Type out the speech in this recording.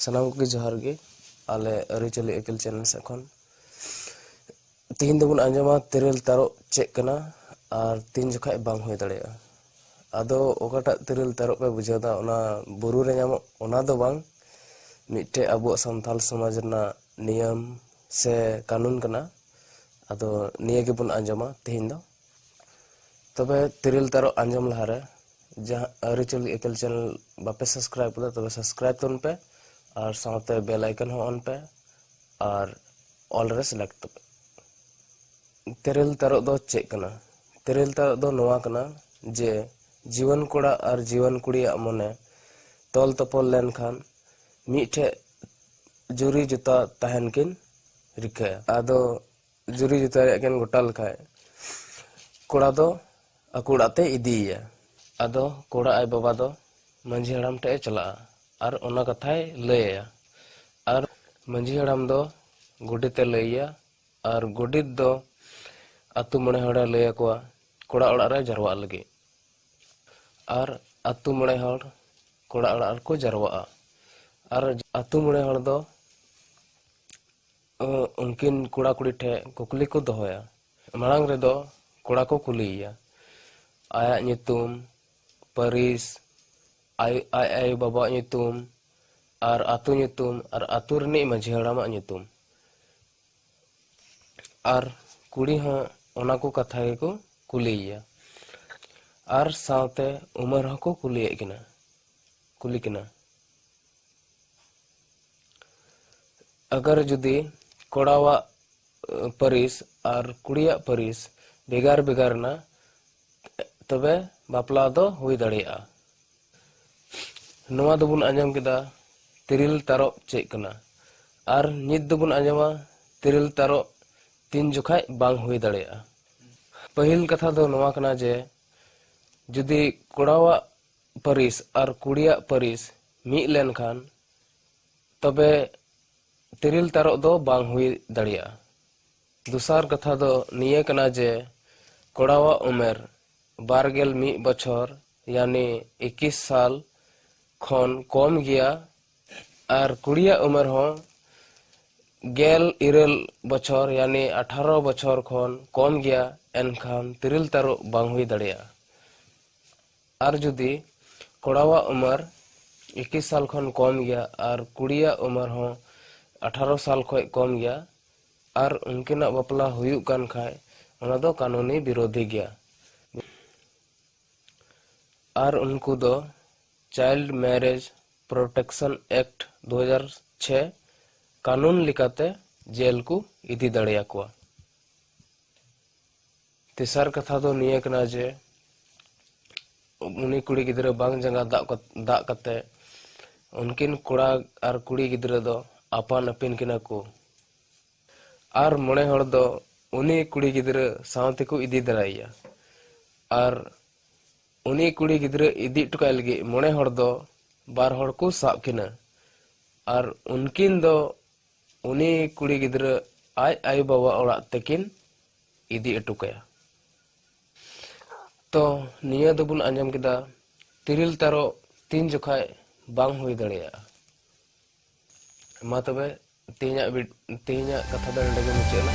ᱥᱟᱱᱟᱢ ᱠᱚᱜᱮ ᱡᱚᱦᱟᱨ ᱜᱮ ᱟᱞᱮ ᱟᱹᱨᱤᱪᱟᱹᱞᱤ ᱟᱹᱠᱤᱞ ᱪᱮᱱᱮᱞ ᱥᱮᱫ ᱠᱷᱚᱱ ᱛᱤᱦᱤᱧ ᱫᱚᱵᱚᱱ ᱟᱸᱡᱚᱢᱟ ᱛᱮᱨᱮᱞ ᱛᱟᱨᱚᱵ ᱪᱮᱫ ᱠᱟᱱᱟ ᱟᱨ ᱛᱤᱱ ᱡᱚᱠᱷᱟᱡ ᱵᱟᱝ ᱦᱩᱭ ᱫᱟᱲᱮᱭᱟᱜᱼᱟ ᱟᱫᱚ ᱚᱠᱟᱴᱟᱜ ᱛᱮᱨᱮᱞ ᱛᱟᱨᱚᱵ ᱯᱮ ᱵᱩᱡᱷᱟᱹᱣᱫᱟ ᱚᱱᱟ ᱵᱩᱨᱩ ᱨᱮ ᱧᱟᱢᱚᱜ ᱚᱱᱟ ᱫᱚ ᱵᱟᱝ ᱢᱤᱫᱴᱮᱡ ᱟᱵᱚᱣᱟᱜ ᱥᱟᱱᱛᱟᱞ ᱥᱚᱢᱟᱡᱽ ᱨᱮᱱᱟᱜ ᱱᱤᱭᱚᱢ ᱥᱮ ᱠᱟᱹᱱᱩᱱ ᱠᱟᱱᱟ ᱟᱫᱚ ᱱᱤᱭᱟᱹ ᱜᱮᱵᱚᱱ ᱟᱸᱡᱚᱢᱟ ᱛᱮᱦᱮᱧ ᱫᱚ ᱛᱚᱵᱮ ᱛᱤᱨᱤᱞ ᱛᱟᱨᱚ ᱟᱸᱡᱚᱢ ᱞᱟᱦᱟᱨᱮ ᱡᱟᱦᱟᱸ ᱟᱹᱨᱤᱪᱟᱹᱞᱤ ᱮᱠᱮᱞ ᱪᱮᱱᱮᱞ ᱵᱟᱯᱮ ᱥᱟᱵᱥᱠᱨᱟᱭᱤᱵ ᱠᱟᱫᱟ ᱛᱚᱵᱮ ᱥᱟᱵᱥᱠᱨᱟᱭᱤᱵ ᱛᱟᱵᱚᱱ ᱯᱮ ᱟᱨ ᱥᱟᱶᱛᱮ ᱵᱮᱞ ᱟᱭᱠᱚᱱ ᱦᱚᱸ ᱚᱱ ᱯᱮ ᱟᱨ ᱚᱞ ᱨᱮ ᱥᱤᱞᱮᱠᱴ ᱛᱟᱯᱮ ᱛᱮᱨᱮᱞ ᱛᱟᱨᱚᱜ ᱫᱚ ᱪᱮᱫ ᱠᱟᱱᱟ ᱛᱮᱨᱮᱞ ᱛᱟᱨᱚᱜ ᱫᱚ ᱱᱚᱣᱟ ᱠᱟᱱᱟ ᱡᱮ ᱡᱩᱣᱟᱹᱱ ᱠᱚᱲᱟ ᱟᱨ ᱡᱩᱣᱟᱹᱱ ᱠᱩᱲᱤᱭᱟᱜ ᱢᱚᱱᱮ ᱛᱚᱞ ᱛᱚᱯᱚᱞ ᱞᱮᱱᱠᱷᱟᱱ ᱢᱤᱫᱴᱷᱮᱡ ᱡᱩᱨᱤ ᱡᱚᱛᱟ ᱛᱟᱦᱮᱱ ᱠᱤᱱ ᱨᱤᱠᱟᱹᱭᱟ ᱟᱫᱚ ᱡᱩᱨᱤ ᱡᱚᱛᱟ ᱨᱮᱭᱟᱜ ᱠᱤᱱ ᱜᱚᱴᱟ ᱞᱮᱠᱷᱟᱡ ᱠᱚᱲᱟ ᱫᱚ ᱟᱠᱚ ᱚᱲᱟᱜ ᱛᱮ ᱤᱫᱤᱭᱮᱭᱟ ᱟᱫᱚ ᱠᱚᱲᱟ ᱟᱡ ᱵᱟᱵᱟ ᱫᱚ ᱢᱟᱹᱡᱷᱤ ᱦᱟᱲᱟᱢ ᱴᱷᱮᱡ ᱮ ᱪᱟᱞᱟᱜᱼᱟ ᱟᱨ ᱚᱱᱟ ᱠᱟᱛᱷᱟᱭ ᱞᱟᱹᱭᱟᱭᱟ ᱟᱨ ᱢᱟᱹᱡᱷᱤ ᱦᱟᱲᱟᱢ ᱫᱚ ᱜᱚᱰᱮᱛ ᱮ ᱞᱟᱹᱭᱟᱭᱟ ᱟᱨ ᱜᱚᱰᱮᱛ ᱫᱚ ᱟᱛᱳ ᱢᱚᱬᱮ ᱦᱚᱲᱮ ᱞᱟᱹᱭ ᱟᱠᱚᱣᱟ ᱠᱚᱲᱟ ᱚᱲᱟᱜ ᱨᱮ ᱡᱟᱨᱣᱟᱜ ᱞᱟᱹᱜᱤᱫ ᱟᱨ ᱟᱛᱳ ᱢᱚᱬᱮ ᱦᱚᱲ ᱠᱚᱲᱟ ᱚᱲᱟᱜ ᱨᱮᱠᱚ ᱡᱟᱨᱣᱟᱜᱼᱟ ᱟᱨ ᱟᱛᱳ ᱢᱚᱬᱮ ᱦᱚᱲ ᱫᱚ ᱩᱱᱠᱤᱱ ᱠᱚᱲᱟ ᱠᱩᱲᱤ ᱴᱷᱮᱱ ᱠᱩᱠᱞᱤ ᱠᱚ ᱫᱚᱦᱚᱭᱟ ᱢᱟᱲᱟᱝ ᱨᱮᱫᱚ ᱠᱚᱲᱟ ᱠᱚ ᱠᱩᱞᱤᱭᱮᱭᱟ ᱟᱭᱟᱜ ᱧᱩᱛᱩᱢ ᱯᱟᱹᱨᱤᱥ ᱟᱭ ᱟᱭ ᱟᱭᱳ ᱵᱟᱵᱟᱣᱟᱜ ᱧᱩᱛᱩᱢ ᱟᱨ ᱟᱛᱳ ᱧᱩᱛᱩᱢ ᱟᱨ ᱟᱛᱳ ᱨᱤᱱᱤᱡ ᱢᱟᱺᱡᱷᱤ ᱦᱟᱲᱟᱢᱟᱜ ᱧᱩᱛᱩᱢ ᱟᱨ ᱠᱩᱲᱤ ᱦᱚᱸ ᱚᱱᱟ ᱠᱚ ᱠᱟᱛᱷᱟ ᱜᱮᱠᱚ ᱠᱩᱞᱤᱭᱮᱭᱟ ᱟᱨ ᱥᱟᱶᱛᱮ ᱩᱢᱮᱨ ᱦᱚᱸᱠᱚ ᱠᱩᱞᱤᱭᱮᱫ ᱠᱤᱱᱟ ᱠᱩᱞᱤ ᱠᱤᱱᱟ ᱟᱜᱟᱨ ᱡᱩᱫᱤ ᱠᱚᱲᱟᱣᱟᱜ ᱯᱟᱹᱨᱤᱥ ᱟᱨ ᱠᱩᱲᱤᱭᱟᱜ ᱯᱟᱹᱨᱤᱥ ᱵᱷᱮᱜᱟᱨ ᱵᱷᱮᱜᱟᱨ ᱮᱱᱟ ᱛᱚᱵᱮ ᱵᱟᱯᱞᱟ ᱫᱚ ᱦᱩᱭ ᱫᱟᱲᱮᱭᱟᱜᱼᱟ ᱱᱚᱣᱟ ᱫᱚᱵᱚᱱ ᱟᱸᱡᱚᱢ ᱠᱮᱫᱟ ᱛᱤᱨᱤᱞ ᱛᱟᱨᱚᱵ ᱪᱮᱫ ᱠᱟᱱᱟ ᱟᱨ ᱱᱤᱛ ᱫᱚᱵᱚᱱ ᱟᱸᱡᱚᱢᱟ ᱛᱤᱨᱤᱞ ᱛᱟᱨᱚᱵ ᱛᱤᱱ ᱡᱚᱠᱷᱟᱡ ᱵᱟᱝ ᱦᱩᱭ ᱫᱟᱲᱮᱭᱟᱜᱼᱟ ᱯᱟᱹᱦᱤᱞ ᱠᱟᱛᱷᱟ ᱫᱚ ᱱᱚᱣᱟ ᱠᱟᱱᱟ ᱡᱮ ᱡᱩᱫᱤ ᱠᱚᱲᱟᱣᱟᱜ ᱯᱟᱹᱨᱤᱥ ᱟᱨ ᱠᱩᱲᱤᱭᱟᱜ ᱯᱟᱹᱨᱤᱥ ᱢᱤᱫ ᱞᱮᱱᱠᱷᱟᱱ ᱛᱚᱵᱮ ᱛᱤᱨᱤᱞ ᱛᱟᱨᱚᱵ ᱫᱚ ᱵᱟᱝ ᱦᱩᱭ ᱫᱟᱲᱮᱭᱟᱜᱼᱟ ᱫᱚᱥᱟᱨ ᱠᱟᱛᱷᱟ ᱫᱚ ᱱᱤᱭᱟᱹ ᱠᱟᱱᱟ ᱡᱮ ᱠᱚᱲᱟᱣᱟᱜ ᱩᱢᱮᱨ ᱵᱟᱨᱜᱮᱞ ᱢᱤᱫ ᱵᱚᱪᱷᱚᱨ ᱭᱟᱱᱤ ᱤᱠᱤᱥ ᱥᱟᱞ ᱠᱷᱚᱱ ᱠᱚᱢ ᱜᱮᱭᱟ ᱟᱨ ᱠᱩᱲᱤᱭᱟᱜ ᱩᱢᱮᱨ ᱦᱚᱸ ᱜᱮᱞ ᱤᱨᱟᱹᱞ ᱵᱚᱪᱷᱚᱨ ᱭᱟᱱᱤ ᱟᱴᱷᱟᱨᱚ ᱵᱚᱪᱷᱚᱨ ᱠᱷᱚᱱ ᱠᱚᱢ ᱜᱮᱭᱟ ᱮᱱᱠᱷᱟᱱ ᱛᱤᱨᱤᱞ ᱛᱟᱹᱨᱩᱵ ᱵᱟᱝ ᱦᱩᱭ ᱫᱟᱲᱮᱭᱟᱜᱼᱟ ᱟᱨ ᱡᱩᱫᱤ ᱠᱚᱲᱟᱣᱟᱜ ᱩᱢᱮᱨ ᱤᱠᱤᱥ ᱥᱟᱞ ᱠᱷᱚᱱ ᱠᱚᱢ ᱜᱮᱭᱟ ᱟᱨ ᱠᱩᱲᱤᱭᱟᱜ ᱩᱢᱮᱨ ᱦᱚᱸ ᱟᱴᱷᱟᱨᱚ ᱥᱟᱞ ᱠᱷᱚᱱ ᱠᱚᱢ ᱜᱮᱭᱟ ᱟᱨ ᱩᱱᱠᱤᱱᱟᱜ ᱵᱟᱯᱞᱟ ᱦᱩᱭᱩᱜ ᱠᱟᱱ ᱠᱷᱟᱱ ᱚᱱᱟ ᱫᱚ ᱠᱟᱹᱱᱩᱱᱤ ᱵᱤᱨᱳᱫᱷᱤ ᱜᱮᱭᱟ ᱟᱨ ᱩᱱᱠᱩ ᱫᱚ ᱪᱟᱭᱤᱞᱰ ᱢᱮᱨᱮᱡᱽ ᱯᱨᱳᱴᱮᱠᱥᱚᱱ ᱮᱠᱴ ᱫᱩ ᱦᱟᱡᱟᱨ ᱪᱷᱮ ᱠᱟᱹᱱᱩᱱ ᱞᱮᱠᱟᱛᱮ ᱡᱮᱞ ᱠᱚ ᱤᱫᱤ ᱫᱟᱲᱮᱭᱟᱠᱚᱣᱟ ᱛᱮᱥᱟᱨ ᱠᱟᱛᱷᱟ ᱫᱚ ᱱᱤᱭᱟᱹ ᱠᱟᱱᱟ ᱡᱮ ᱩᱱᱤ ᱠᱩᱲᱤ ᱜᱤᱫᱽᱨᱟᱹ ᱵᱟᱝ ᱡᱟᱸᱜᱟ ᱫᱟᱜ ᱫᱟᱜ ᱠᱟᱛᱮ ᱩᱱᱠᱤᱱ ᱠᱚᱲᱟ ᱟᱨ ᱠᱩᱲᱤ ᱜᱤᱫᱽᱨᱟᱹ ᱫᱚ ᱟᱯᱟᱱ ᱟᱹᱯᱤᱱ ᱠᱤᱱᱟ ᱠᱚ ᱟᱨ ᱢᱚᱬᱮ ᱦᱚᱲ ᱫᱚ ᱩᱱᱤ ᱠᱩᱲᱤ ᱜᱤᱫᱽᱨᱟᱹ ᱥᱟᱶ ᱛᱮᱠᱚ ᱤᱫᱤ ᱫᱟᱲᱮᱭᱟᱭᱟ ᱟᱨ ᱩᱱᱤ ᱠᱩᱲᱤ ᱜᱤᱫᱽᱨᱟᱹ ᱤᱫᱤ ᱦᱚᱴᱚ ᱠᱟᱭ ᱞᱟᱹᱜᱤᱫ ᱢᱚᱬᱮ ᱦᱚᱲ ᱫᱚ ᱵᱟᱨ ᱦᱚᱲ ᱠᱚ ᱥᱟᱵ ᱠᱤᱱᱟ ᱟᱨ ᱩᱱᱠᱤᱱ ᱫᱚ ᱩᱱᱤ ᱠᱩᱲᱤ ᱜᱤᱫᱽᱨᱟᱹ ᱟᱡ ᱟᱭᱳ ᱵᱟᱵᱟ ᱚᱲᱟᱜ ᱛᱮᱠᱤᱱ ᱤᱫᱤ ᱚᱴᱚ ᱠᱟᱭᱟ ᱛᱚ ᱱᱤᱭᱟᱹ ᱫᱚᱵᱚᱱ ᱟᱸᱡᱚᱢ ᱠᱮᱫᱟ ᱛᱤᱨᱤᱞ ᱛᱟᱨᱚᱵ ᱛᱤᱱ ᱡᱚᱠᱷᱟᱡ ᱵᱟᱝ ᱦᱩᱭ ᱫᱟᱲᱮᱭᱟᱜᱼᱟ ᱢᱟ ᱛᱚᱵᱮ ᱛᱮᱦᱮᱧᱟᱜ ᱛᱮᱦᱮᱧᱟᱜ ᱠᱟᱛᱷᱟ ᱫᱚ ᱱᱚᱰᱮ ᱜᱮ ᱢᱩᱪᱟᱹᱫ ᱮᱱᱟ